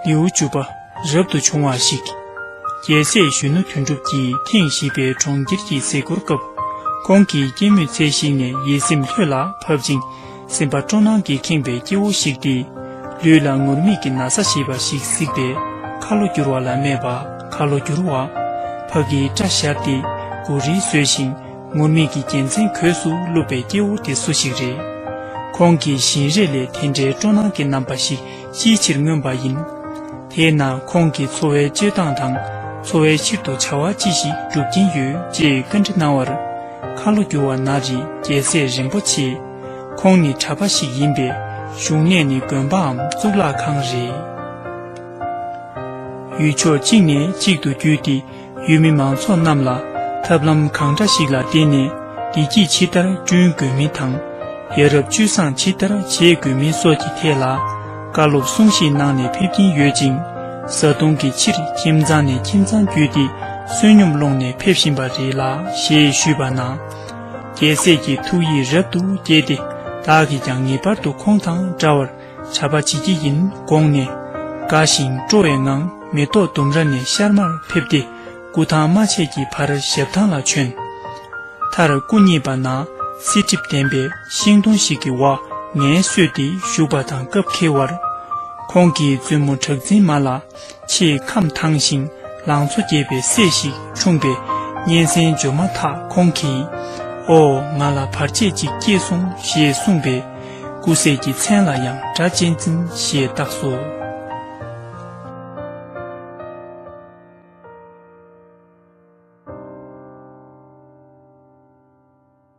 ལེའུ་བཅུ་པ་རབ་ཏུ་བྱུང་བ་ཞིག། རྒྱལ་སྲས་གཞོན་ནུ་དོན་གྲུབ་ཀྱིས་ཐེངས་བཞི་པའི་གྲོང་ཁྱེར་གྱི་གཟིགས་སྐོར་སྐབས། ཁོང་གིས་སྐྱེད་མོས་ཚལ་ཞིག་ནས་ཡིད་སེམས་ལྷོད་ལ་ཕབ་ཅིང་སེམས་པ་སྤྲོ་སྣང་གིས་ཁེངས་པའི་སྐྱེ་བོ་ཞིག་སྟེ། ལུས་ལ་ངུར་སྨྲིག་གི་ན་བཟའ་ཞེས་པ་ཞིག་གཟིགས་པས་ཁ་ལོ་བསྒྱུར་བ་ལ་སྨྲས་པ་ཁ་ལོ་བསྒྱུར་བ། ཕ་གིས་སྐྲ་བཞར་ཏེ་གུ་རིལ་བཟོས་ཤིང། ངུར་སྨྲིག་གི་རྒྱལ་མཚན་གོས་སུ་བཀླུབས་པའི་སྐྱེ་བོ་དེ་སུ་ཞིག་རེད། ཁོང་གིས་བཞིན་རས་ལས་དེ་འདྲའི་སྤྲོ་སྣང་གི་རྣམ་པ་ཞིག་ཅིའི་ཕྱིར་མངོན་པ་ཡིན། དེས་ན་ཁོང་གི་འཚོ་བའི་སྤྱོད་སྟངས་དང་འཚོ་བའི་ཕྱིར་དུ་བྱ་བ་ཅི་ཞིག་སྒྲུབ་ཀྱིན་ཡོད་ཅེས་བཀའ་འདྲི་གནང་བར། ཁ་ལོ་སྒྱུར་བ་ན་རི་རྒྱལ་སྲས་རིན་པོ་ཆེ། ཁོང་ནི་གྲྭ་པ་ཞིག་ཡིན་པས་བཞུགས་གནས་ནི་དགོན་པའམ་གཙུག་ལག་ཁང་རེད། ཡུལ་ཕྱོགས་གཅིག་ནས་གཅིག་ཏུ་བརྒྱུད་དེ། ཡུལ་མི་མང་ཚོགས་རྣམས་ལ་ཐབས་ལམ་གང་འདྲ་ཞིག་ལ་བརྟེན་ནས་བདེ་སྐྱིད་ཇི་ལྟར་བསྐྲུན་དགོས་མིན་དང། ཡ་རབས་བཅུད་བཟང་ཇི་ལྟར་བྱེད་དགོས་མིན་སོགས་ཀྱི་ཐད་ལ་བཀའ་སློབ་གསུང་བཤད་གནང་ནས་ཕེབས་ཀྱིན་ཡོད་ཅིང། བཟའ་བཏུང་གི་ཕྱིར་ཁྱིམ་ཚང་ནས་ཁྱིམ་ཚང་བརྒྱུད་དེ་བསོད་སྙོམས་སློང་ནས་ཕེབས་བཞིན་པ་རེད་ལགས་ཞེས་ཞུས་པ་ན། རྒྱལ་སྲས་ཀྱི་ཐུགས་ཡིད་རབ་ཏུ་དགྱེས་ཏེ་བདག་གིས་ཀྱང་ངེས་པར་དུ་ཁོང་དང་འདྲ་བར། བྱ་བ་བྱེད་ཀྱི་ཡིན་དགོངས་ནས། དགའ་ཞིང་སྤྲོ་བའི་ངང་མེ་ཏོག་ལྡུམ་ར་ནས་ཤར་མར་ཕེབས་ཏེ་སྐུ་ཐང་རྨ་ཆད་ཀྱི་བར་ཞབས་ཐང་ལ་བྱོན། མཐར་སྐུ་གཉིས་པ་ན་བསིལ་གྲིབ་ལྡན་པའི་ཤིང་སྡོང་ཞིག་གི་བ་ངན་བསོས་ཏེ་བཞུགས་པ་དང་སྐབས་འཁེལ་བར། ཁོང་གིས་བཙུན་མོ་གྲགས་འཛིན་མ་ལ། ཆེས་ཁམས་དྭངས་ཤིང་ལང་ཚོ་རྒྱས་པའི་སྲས་ཤིག་འཁྲུངས་པས་སྙན་གསན་བརྗོད་མ་ཐག་ཁོང་གིས། ཨོ། ང་ལ་བར་ཆད་ཅིག་སྐྱེས་སོང་ཞེས་གསུངས་པས། སྐུ་སྲས་ཀྱི་མཚན་ལ་ཡང་སྒྲ་གཅན་འཛིན་ཞེས་བཏགས་སོ།